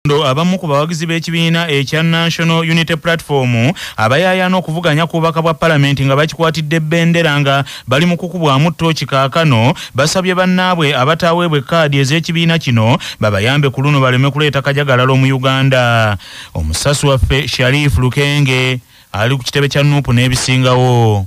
Kyadondo abamu ku bawagizi b'ekibiina ekya National Unity Platform abayaayaana okuvuganya ku bubaka bwa palamenti nga bakikwatidde bendera nga bali mu kukubwamu ttooki kaakano basabye bannaabwe abataaweebwa ekkaadi ez'ekibiina kino babayambe ku luno baleme kuleeta kajagalalo mu Uganda. Omusasi waffe Sharif Lukenge ali ku kitebe kya nuupu n'ebisingawo.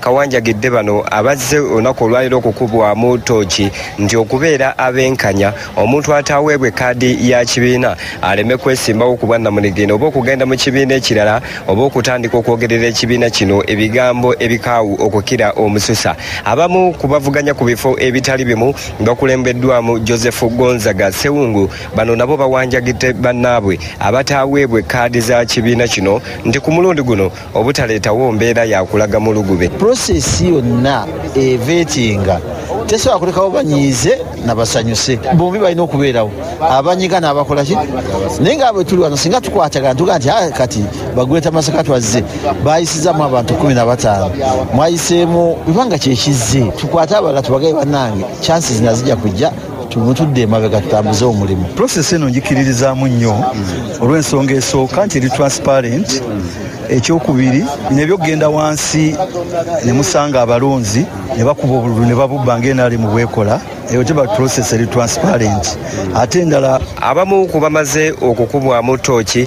kawanjagidde bano abazze olunaku olwaliro okukubwamu tooki nti okubeera abenkanya omuntu ataaweebwa ekaadi ya kibiina aleme kwesimbawo ku bwannamunigina oba okugenda mu kibiina ekirala oba okutandika okwogerera ekibiina kino ebigambo ebikaawu okukira omususa abamu ku bavuganya ku bifo ebitali bimu bakulembeddwamu joseph gonzaga sewungu bano nabo bawanjagidde bannaabwe abataaweebwa ekaadi za kibiina kino nti ku mulundi guno obutaleetawo mbeera yakulaga mu lugube prosesi yonna eva etinga tesobola kulekawo banyiize nabasanyuse bombi balina okubeerawo abanyiga nabakolaki naye nga bwe tuli wano singa tukwatagana tuga nti ah, kati bagweta masaka twazze bayisizamu abantu kumi na bataano mwayiseemu bibanga kyekizze tukwate abalala tubagaye bannange chansi zinazija kujja tumutudde emabega tutambuze omulimu prosesi eno njikiririzaamu nnyo olw'ensonga esooka nti eri transparent ekyokubiri nebyo okugenda wansi ne musanga abalonzi ne bakuba obululu ne babubba ng'enaali mu bwekola eyo teba process eri transparent ate endala abamu ku bamaze okukubwamu tooki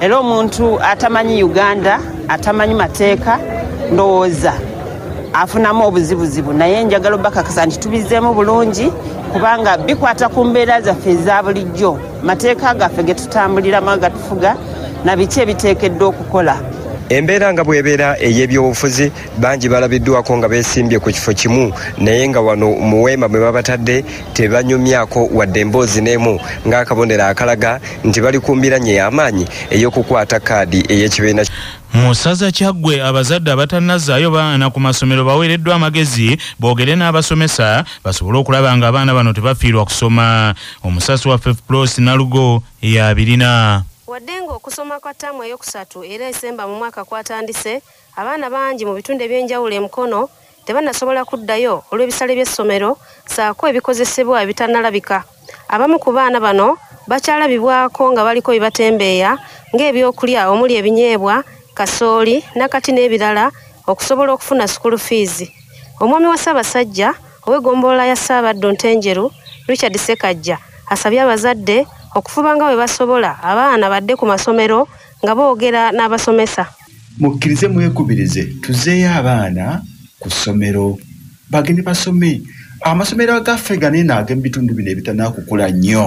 era omuntu atamanyi uganda atamanyi mateeka ndowooza afunamu obuzibuzibu naye njagala obakakasa nti tubizeemu bulungi kubanga bikwata ku mbeera zaffe eza bulijjo mateeka gaffe getutambuliramu agatufuga na biki ebiteekeddwa okukola embeera nga bwebeera ey'ebyobufuzi bangi balabiddwako nga besimbye ku kifo kimu naye nga wano muweema mwe babatadde tebanyumyako wadde emboozi n'emu ng'akabonero akalaga nti bali ku mbiranye y'amaanyi ey'okukwata kaadi ey'ekibiina mu ssaza kyaggwe abazadde abatannazaayo baana ku masomero baweereddwa amagezi boogere n'abasomesa basobole okulaba nga abaana bano tebafiirwa kusoma omusasi wa fefplos nalugo eyabirina wadde ng'okusoma kwa ttaamu eyokusatu era esemba mu mwaka kwatandise Abaana bangi mu bitundu eby'enjawulo e Mukono tebanasobola kuddayo olw'ebisale by'essomero ssaako ebikozesebwa ebitanalabika. Abamu ku baana bano bakyalabibwako nga baliko bye batembeeya ng'ebyokulya omuli ebinyeebwa, kasooli, nakati n'ebirala okusobola okufuna sukulu fiizi. Omwami wa Ssaabasajja ow'eggombolola ya Ssaabaddu Ntenjeru, Richard Ssekajja asabye abazadde okufuba nga bwe basobola abaana badde ku masomero nga boogera n'abasomesa. mukkirize mwekubirize tuzeeyo abaana ku ssomero bagende basome amasomero agaffe ganene agemu bitundu bino ebitanakukula nnyo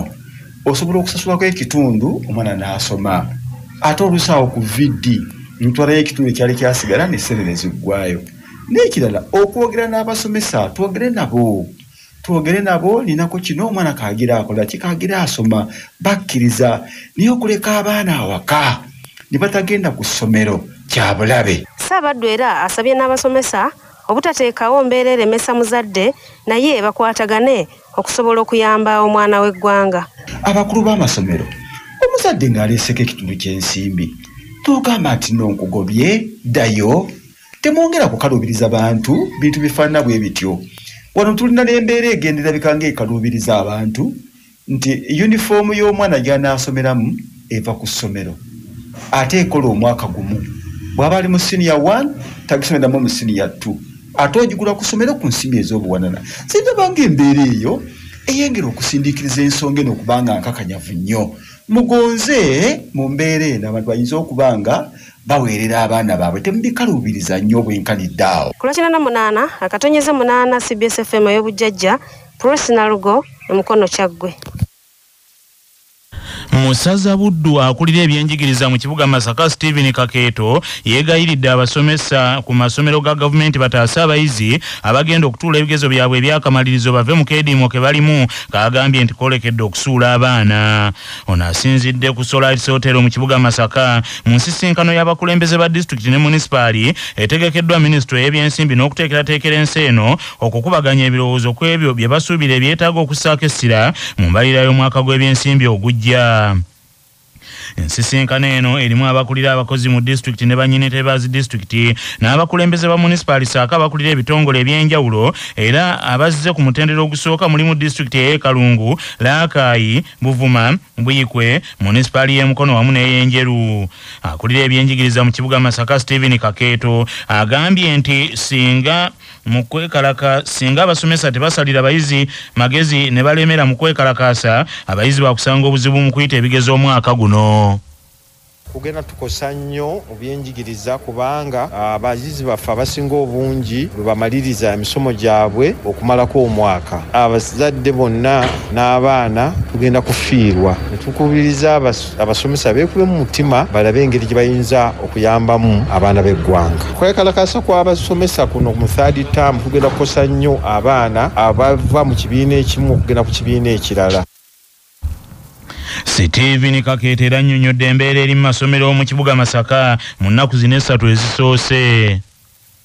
osobola okusasulako ekitundu omwana n'asoma ate olusaawo ku vd ntwalayo ekitundu ekyali kyasigala nesente neziggwayo n'ekirala okwogera n'abasomesa twogere nabo twogere nabo ninako kino omwana kagira akola ki kagira asoma bakkiriza naye okuleka abaana awaka ne batagenda ku ssomero kya bulabe ssaabaddu era asabye n'abasomesa obutateekawo mbeera eremesa muzadde naye bakwatagane okusobola okuyamba omwana w'eggwanga abakulu b'amasomero omuzadde ng'aleeseko ekitundu ky'ensimbi togamba nti nonkugobye ddayo temwongera kukaluubiriza bantu bintu bifaanana bwe bityo wano tulina n'embeera egenderabika ng'ekaluubiriza abantu nti yunifoomu y'omwana gy'anaasomeramu eva ku ssomero ate ekola omwaka gumu bw'aba ali mu siniya one tagisomeramu mu siniya two ate ogigula ku ssomero ku nsimbi ez'obuwanana sindaba ng'embeera eyo eyengera okusindiikiriza ensonga eno okubanga nkakanyavu nnyo mugonze mu mbeera eno abantu bayinza okuba nga baweerera abaana baabwe temubikaluubiriza nnyo obwenkanidde awo kulakinana munaana akatonyeze munaana cbs fm ey'obujjajja prosi nalugo emukono kyaggwe musaza buddu akulira ebyenjigiriza mu kibuga masaka stephen kakeeto yeegayiridde abasomesa ku masomero ga gavumenti bataase abayizi abagenda okutuula ebigezo byabwe ebyakamalirizo bave mu keediimo ke balimu kaagambye nti koolekedde okusuula abaana ono asinzidde ku solaris hotel mu kibuga masaka mu nsisinkano y'abakulembeze ba disitulikiti ne munisipaali etegekeddwa minisitule ey'ebyensimbi n'okuteekerateekera ensi eno okukubaganya ebirowoozo ku ebyo bye basuubira ebyetaaga okussaako essira mu mbalira y'omwaka gw'ebyensimbi ogujja ensisinkano eno erimu abakulira abakozi mu disitulikiti ne banyini tebazi disitulikiti n'abakulembeze ba munisipaali saako abakulira ebitongole eby'enjawulo era abazze ku mutendera ogusooka mulimu disitulikiti ey'ekalungu Laakayi, Buvuma, Buyikwe, munisipaali y'e Mukono wamu n'ey'Enjeru. Akulira ebyenjigiriza mu kibuga Masaka, Stephen Kakeeto agambye nti singa mu kwekalaka singa abasomesa tebasalira abayizi magezi ne balemera mu kwekalakaasa abayizi bakusanga obuzibu mu kuyita ebigezo omwaka guno. kugenda tukosa nnyo mu byenjigiriza kubanga ah, abayizi baffe abasinga obungi lwe bamaliriza emisomo gyabwe okumalako omwaka abazadde bonna n'abaana tugenda kufiirwa netukubiriza abasomesa beekulemu mutima balabe engeri gye bayinza okuyambamu abaana b'eggwanga kwekalakasa kw'abasomesa kuno mu third term kugenda kukosa nnyo abaana abava mu kibiina ekimu okugenda ku kibiina ekirala Steven Kakeeta era annyonnyodde embeera eri mu masomero mu kibuga Masaka mu nnaku zino essatu ezisoose.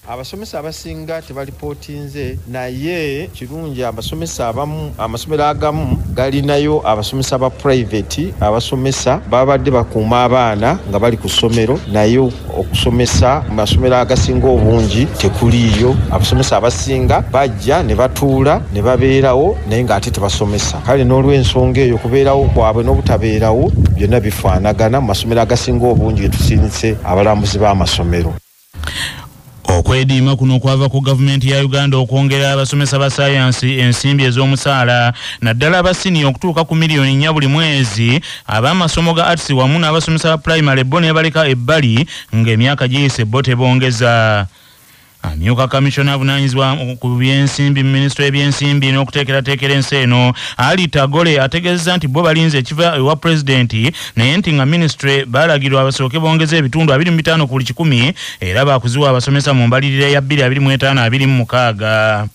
Abasomesa abasinga tebalipootinze naye kirungi abasomesa abamu amasomero agamu galinayo abasomesa ba private abasomesa babadde bakuuma abaana nga bali ku ssomero naye okusomesa mu masomero agasinga obungi tekuliiyo abasomesa abasinga bajja ne batuula ne babeerawo naye ng'ate tebasomesa kale n'olw'ensonga eyo kubeerawo kwabwe n'obutabeerawo byonna bifaanagana mu masomero agasinga obungi getusinise abalambuzi b'amasomero Okwediima kuno kwava ku gavumenti ya Uganda okwongera abasomesa ba sayansi ensimbi ez'omusaala naddala aba siniya okutuuka ku miliyoni nnya buli mwezi ab'amasomo ga arts wamu n'abasomesa ba pulayimale bo nebaleka ebbali ng'emyaka giyise bo tebongeza amyuka kamissiona avunanyizibwa ku byensimbi mu minisitule y'ebyensimbi n'okuteekerateekera ensi eno ali tagole ategeezeza nti bo balinze ekiva ewa pulezidenti naye nti nga minisitule balagirwa basooke bongeze ebitundu abiri mu bitaano ku buli kikumi era baakuziwa abasomesa mu mbalirira ya 22526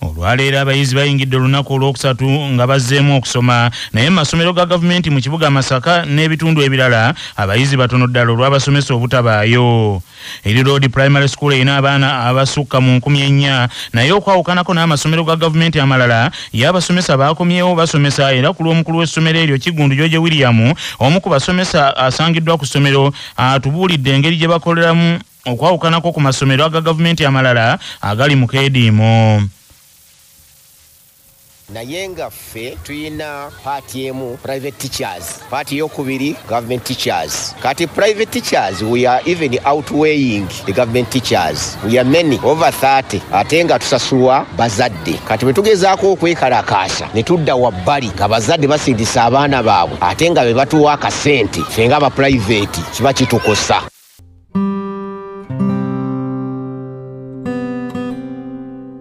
olwaleero abayizi bayingidde olunaku olwokusatu nga bazzeemu okusoma naye mumasomero ga gavumenti mu kibuga masaka n'ebitundu ebirala abayizi batono ddala olw'abasomesa obutabaayo eri road primary school erina abaana abasukka mu nkumi ennya naye okwawukanako n'amasomero ga gavumenti amalala ye abasomesa baakomyewo basomesa era ku lw'omukulu w'essomero eryo kigundu george william omu ku basomesa asangiddwa ku ssomero atubuulidde engeri gye bakoleramu okwawukanako ku masomero aga gavumenti amalala agali mu keediimo naye nga ffe tulina paati emu private teachers paati yokubiri government teachers kati private teachers we are even outweighing the government teachers we are many over 30 ate nga tusasulwa bazadde kati bwe tugezaako okwekalakaasa ne tudda wabbali nga bazadde basindisa abaana baabwe ate nga be batuwa akasente ffe nga abapulayiveti kiba kitukosa